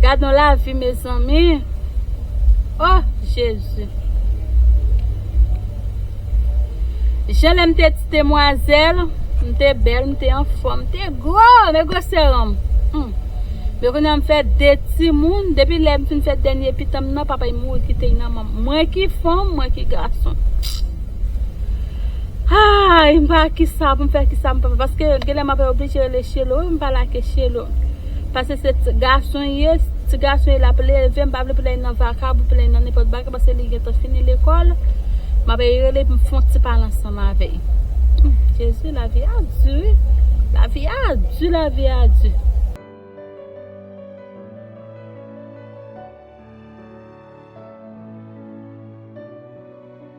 Gadon lavi mezanmi Oh jezi Jan lèm te ti demwazèl M te bèl, m te anfòm, m te gwo Men gwosè ranm Men kounye a m fè 2 timoun Depi lèm fin fè dènye pitanm nan papay mouri kite y nan manm Mwen ki fanm, mwen ki gason Aayy m pa kisa pou m fè kisa m pa fè paske genlè m ap oblije rele shelo wi m pa lage shelo paske se ti gason li ye ti gason li lap leve m pa vle pou lè li nan vakab pou lè li nan nenpòt bagay paske li gentan fini lekòl m ap rele pou m fon ti pale ansanm avèl jezi lavi a di wi lavi a di lavi a di.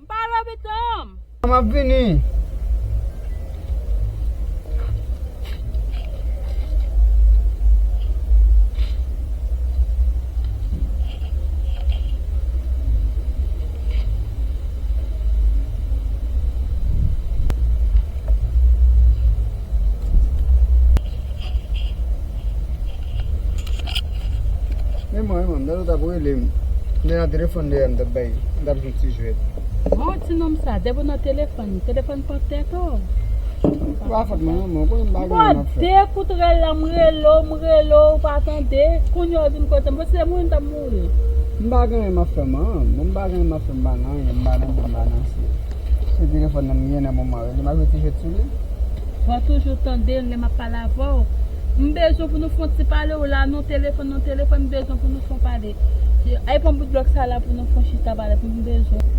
M pa lopitan. M ap vini. Menm mwen menm lè yo tap relem Lè nan telefòn deyè m tap bay m tap jwe ti jwèt. Bon ti nonm sa depi w nan telefòn, telefòn pran tèt ou. Se pa fòt mwen non men ou konnen m pa gen anyen map fè. Bon de kout rèl la m rele w m rele w ou pa tande, kounye a w vin kote m bon si se mwen m tap mouri. M pa gen anyen map fè man, bon m pa gen anyen map fè m pa nan anyen m pa nan bi m pa nan si. Se telefòn nan m gen nan moman an relem ap jwe ti jwèt sou li. Waw toujou tande lè map pale avèw m bezwen pou nou fon ti pale w la non telefòn non telefòn m bezwen pou nou fon pale al pran bout blòk sa la pou nou fon chita pale pou m bezwen w.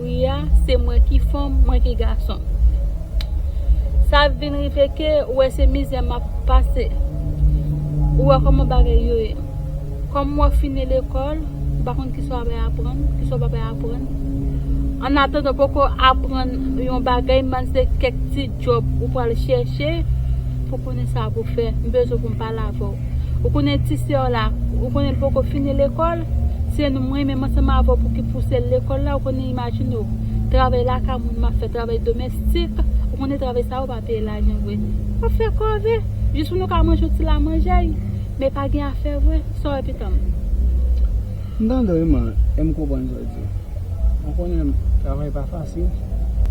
Wi a se mwen ki fanm mwen ki gason sa vin rive ke ou wè se mizè map pase ou wè kòman bagay yo ye kòm mwen fini lekòl m pa konn kisa w ap aprann kisa w pap aprann an atandan ou poko aprann yon bagay m panse kèk ti djòb ou pral chèche pou konnen sa pou fè m bezwen pou m pale avè w. Ou konnen ti sè w la, ou konnen l poko fini lekòl, se nou mwen menm ansanm avè w pou ki pouse l lekòl la, ou konnen imajine w, travay lakay moun m ap fè, travay domèstik, ou konnen travay sa yo pa peye lajan vre. M ap fè kòve, jis pou nou ka manje yon ti lamanjay, men pa gen afè vre, sa w wè pitanm. M tande w wi man e m konprann sa w di. Mwen konnen travay pa fasil.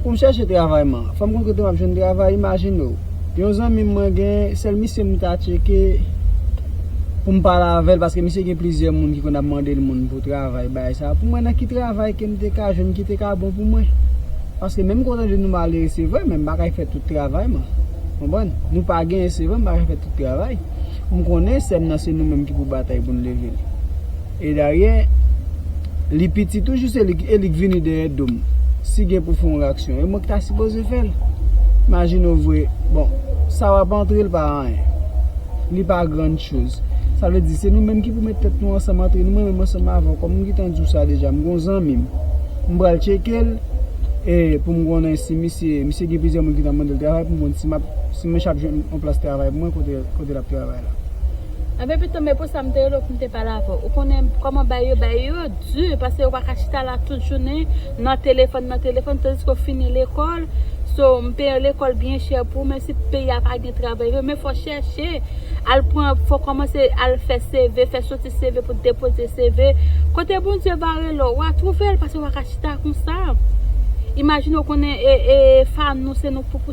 Pou m chèche travay man. Fò m konn kote m ap jwenn travay. Imajine w, yon zanmi m mwen gen, sèl misye m ta tcheke pou m pale avè l paske misye gen plizyè moun ki konn ap mande l moun pou travay bagay sa. Pou mwen nan ki travay ke m te ka jwenn ki te ka bon pou mwen. Paske menm ke w tande nou malere se vre men m pa ka fè tout travay man. Konprann? Nou pa genyen se vre men m pa ka fè tout travay. M konnen sè m nan se nou menm ki pou batay pou n leve l. E dayè, li piti toujou se li k e li k vini dèyè do m. Si gen pou fè yon reyaksyon, e mwen k ta sipoze fè l. Imajine w voye, bon, sa w ap antre l pa anyen. Li pa grand chose. Sa vle di se nou menm ki pou met tèt nou ansanm antre nou mwen menm ansanm avè w kòm m gentan di w sa deja m gen yon zanmi m. M pral tcheke l e pou m konnen si misye, misye gen plizyè moun ki ta mande l travay pou m konn si m ap, si mwen ch ap jwenn. Plas travay mwen kote kote lap travay la. Anben pito men pou sa m te rele w pou m te pale avè w. Ou konnen kòman bagay yo, bagay yo di paske yo pa ka chita la tout jounen nan telefòn nan telefòn tandiske w fini lekòl so m peye lekòl byen chè pou w menm si peyi a pa gen travay vre men fò w chèche al pran fò w kòmanse al fè CV fè soti CV pou depoze CV kote Bondye va rele w wa twouve l paske w pa ka chita konsa imajine w konnen e e fanou se nou k pou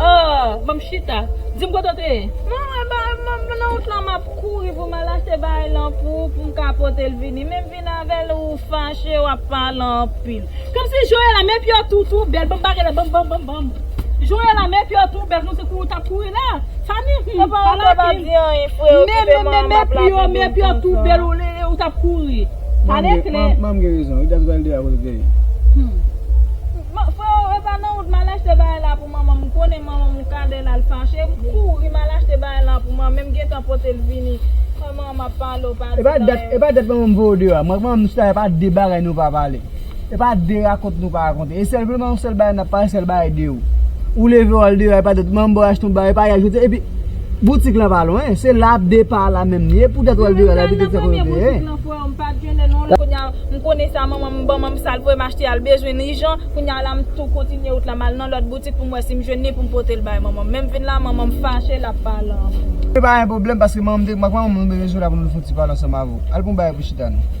Ohh banm chita dim kote w te ye. Mwen wè bagay mwen nan wout lan map kouri poum al achte bagay lan pou ou poum ka potel vini menm vin avèl ou fache wap pale anpil. Komsi Joëlla men piyo tou tou bèl banm bagay la banm banm banm banm Joëlla men piyo tou bèl konse kou ou tap kouri la fanmi hum pala king men men men men piyo men piyo tou bèl ou tap kouri pale klè. Manm gen rezon wi dat valder a kote w te ye. Freo epa nan wout mal achte bagay la pou manmanm m konnen manmanm ou kade lal fache m kouri mal achte bagay la pou manmanm em gentan potel vini an man map pale w pa di nan e. Epa dat manmanm voye w deyò a mwen ak manmanm m chita epa de bagay nou pa pale epa de rakont nou pa rakonte e senpleman yon sèl bagay nap pale sèl bagay de ou ou leve wal deyò a epa dat manmanm baw achte yon bagay epa yè jodi epi boutik lan pa lwen se la de pa la menm li e pou dat wal deyò a la boutik lan kote w te ye. M pat genle non li kounya m konnen sa manman m banm m sal voye m achte al bezwen n ijan kounya la m tou kontinye wout la m al nan lòt boutik pou m wè si m jwenn ni pou m pote l bay manman m men m vin la manman m fache l ap pale anfen. Se pa yon pwoblèm paske manman m te ak manman m nou bezwen sou la pou nou fon ti pale ansanm avè w al pran w bagay pou chita nou.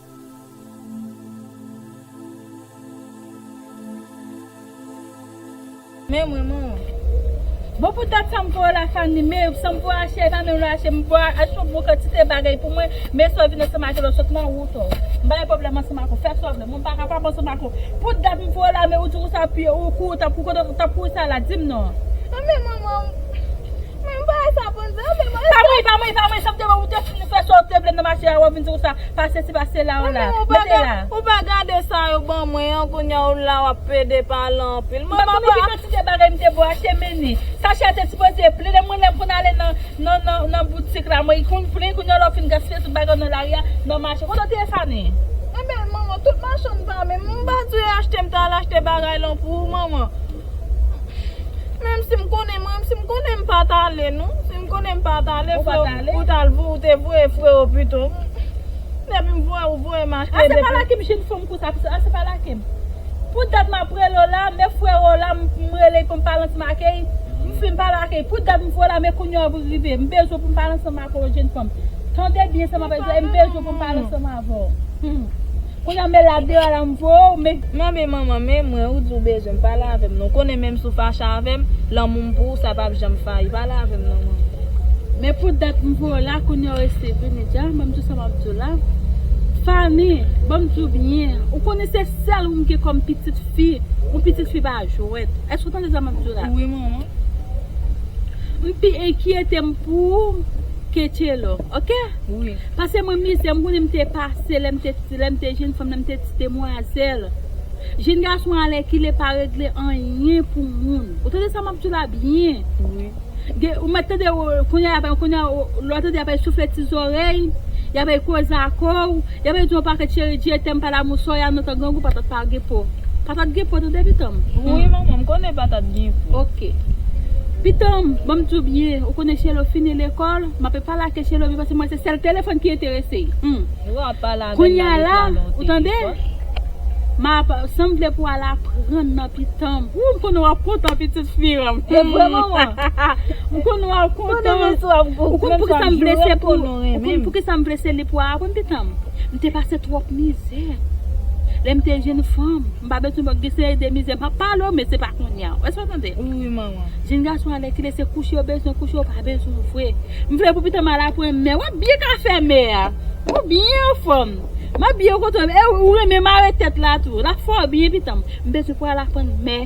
Men mwen man. Bon pou tèt sam pou la fanmi me sam pou ache epa menm lè ache m pou ache yon bon kantite bagay pou mwen men sou vin ansanm avèl ou sot nan wout ou m pa gen pwoblèm ansanm ak ou fè sa w vle men m pa kapab ansanm ak ou pou dat m pou w la men ou di w sa pu ou kou tap kou kote ou tap kou sa la di m non men mwen man men m pa wè sa bon sa men m pa wè sa bon sa pa mwen pa mwen pa mwen sam te wè ou te fin fè sa w te vle nan mache a wap vin di w sa. Pase ti pase la ou la. Mete la. Ou pa gade sa yo ban mwen an kounya ou la wap pede pale anpil. Mwen pa konn ki kantite bagay m te bo achte meni. Sachet a te sipoze plen lè mwen lèm konn ale nan boutik la mwen konn plen kounya la ou fin gaspiye tout bagay ou nan lari a nan mache. Kote ou te ye Fanny? Ebyen manman tout machann pa menm. M pa di ou achte m ta al achte bagay lan pou ou manman. Menm sim konnen menm sim konnen m pat ale non si m konnen m pat ale freo ou tal ou te voye freo pito depi m voye ou voye m achte depi. Ase pa laki m jinn fanm konsa pito ase pa laki m pou dat map rele w la men freo la m rele l pou m pale ansanm ake y m fin pale ake y pou dat m voye w la men kounya w rive m bezwen pou m pale ansanm ake w jinn fanm tande byen sa map di la e m bezwen pou m pale ansanm ave w humm. Kounya me la de ala m po w me. Manbe manman me mwen ou di w bezwen m pale avè m non w konnen menm si w fache avè m lanmou m pou w sa pap janm fayi pale avè m non manman. Me pou dat m po w la kounya w resi vini di a ban m di w sa map di w la Fanny ban m di w byen ou konnen se sèl ou m gen kòm pitit fi yon pitit fi pa jwèt èske w tande sa map di w la. Wi manman. M pi enkyete m pou w ke Tchelo ok. wi. Pase mwen mizè m konnen m te pase lè m te ti lè m te jenn fanm lè m te ti demwazèl jenn gason alèkile pa regle anyen pou moun ou tande sa m ap di w la byen wi gen ou mèt tande kounye a kounye a lè w tande y apèy soufle ti zòrèy y apèy koze a kò w y apèy di w yon pakèt cheri di etèm pa damou sò y a nan tan grangou patat pa gen po patat gen po tande pitan m wi manman m konnen patat gen po ok pitan m ban m di w byen ou konnen chèlou fini lekòl m ape pale ak. Chèche lobi paske mwen se sèl telefòn ki enterese humm kounya la ou tande map sam vle pou al aprann nan pitanm ooh m konnen wap kontan pitit fi anm m konnen wap kontan ou konn poukisa m vle se pou ou konn poukisa m vle se li pou aprann pitanm m te pase twòp mizè lèm te jenn fanm. M pa bezwen bòk gen seri de mizè m pap pale w men se pa kounya ou eske w tande m wi manman. Jenn gason alèkile se kouche yo bezwen kouche yo pa bezwen w vre m vle pou pitanm al aprann mè wap byen ka fè mè a ou byen anfòm m ap byen kontan w e ou renmen mare tèt la tou lap fè w byen pitanm m bezwen pou al aprann mè.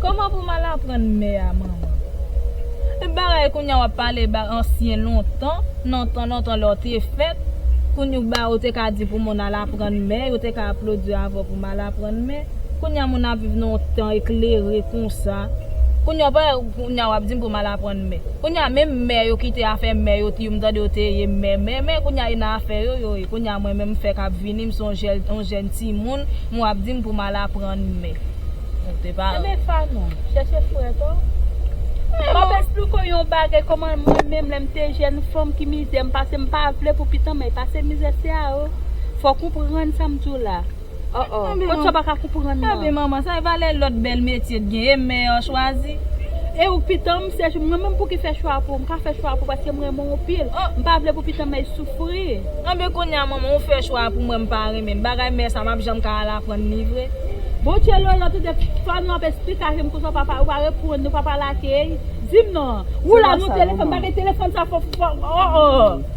Koman pou m al aprann mè a manman. Tout bagay kounye a wap pale ba ansyen lontan nan tan lontan lè w te fèt kounye w ba ou te ka di pou moun al aprann mè yo te ka aplodi w avè w pou mal aprann mè kounye a moun ap viv nan yon tan eklere konsa kounye a w pa wè kounye a wap di m pou m al aprann mè. Kounya menm mè yo kite afè mè yo ti yo mtande yo te ye mè mè mè kounya yo nan afè yo yo ye kounya mwen menm mfèk ap vini mson jèl on jèn timoun mwen wap dim poum al aprann mè ou te pa Enben Fanon chèche frè to Map esplik ou yon bagay kòman mwen menm lèm te jèn fanm ki mizè mpase mpa vle pou pitan mèy pase mizè se a ou fòk ou konprann sam diw la. Oh oh kot sa paka konprann nan. Tanpri manman sa e valè lot bèl metye t gen e mè an chwazi. E ouk pitanm m sèch mwen menm pouki fè chwa pou m ka fè chwa pou paske m renmen w anpil m pa vle pou pitanm mèy soufri. Anben kounya manman ou fè chwa pou mwen m pa renmen bagay mè sa map janm ka al aprann li vre. Bon tchello yo tande fwa nou ap esplikasyon konsa papa yo pa reponn nou papa lakey dim non ou la nou telefòn bagay telefòn sa fò oh oh.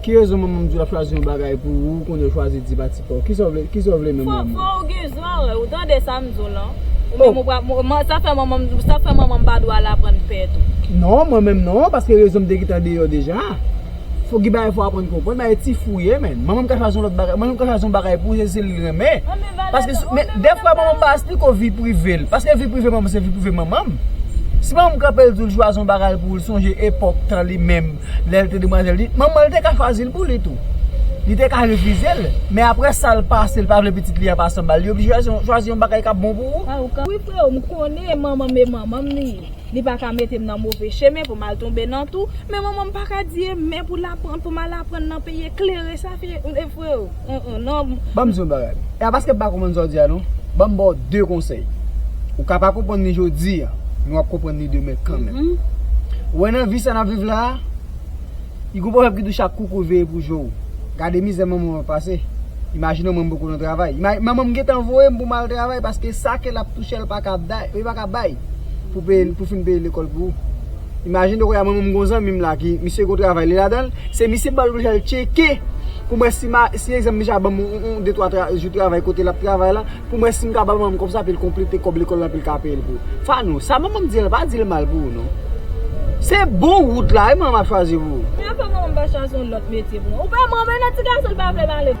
Ki rezon manmanm di w lap chwazi yon bagay pou ou ou konn yo chwazi di pa ti paw kisa w vle kisa w vle menm manman. Fò ou gen zan ou tande sam di w lan ou menm ou pral manman sa fè manman sa fè manman pa dwe al aprann pè tou. Non mwen menm non paske rezonm te gentan deyò deja fò gen bagay fò aprann konprann bagay ti fou ye menm manmanm ka chwazi yon lòt bagay manmanm ka chwazi yon bagay pou ou se li renmen paske men dèfwa manmanm pa espliko vi prive l paske vi prive manmanm se vi prive manmanm si manmanm kanpe l di w chwazi yon bagay pou ou l sonje epòk tan li menm. Lè l te demwazèl li, manman l te ka fazil pou li tou. Li te ka refize l, men aprè sa l pase l pa vle pitit li an pa sanba l, li oblije chwazi yon bagay k ap bon pou ou. Wi freo, m konnen manman m e manman m li ye, li pa ka mete m nan move chemen pou m al tonbe nan tou, men manman m pa ka di e men pou l aprann pou m al aprann nan peyi eklere sa. Freo uh uh nan. Banm diw yon bagay e a paske m pa konprann sa w di a non banm baw 2 konsèy ou ka pa konprann li jodi a men wap konprann li demen kanmenm ou wè nan vi sa nap viv la a li gon pwovèb ki di chak kou kou l veye pou jo w gade mizè manman w ap pase imajine w manman m poko nan travay manman m gentan voye m pou m al travay paske sa ke lap touche l paka bay pou fin peye lekòl pou ou. Imajine ou konya mwen menm m gon zanmim la ki misye gon travay li ladanl, se misye m pral oblije al tcheke poum wè si ma si egzanp misye ap banm yon de twa jou travay kote lap travay la poum wè sim kapab banm kòb sa epil konplete kòb lekòl la epil ka peyel pou Fanou, sa manmanm di an pa dil mal pou ou non se bon wout la wi manmanm ap chwazi pou ou. Premye fwa manmanm pa chwazi yon lòt metye pou mwen ou pa manman nan ti gason li pa vle pale.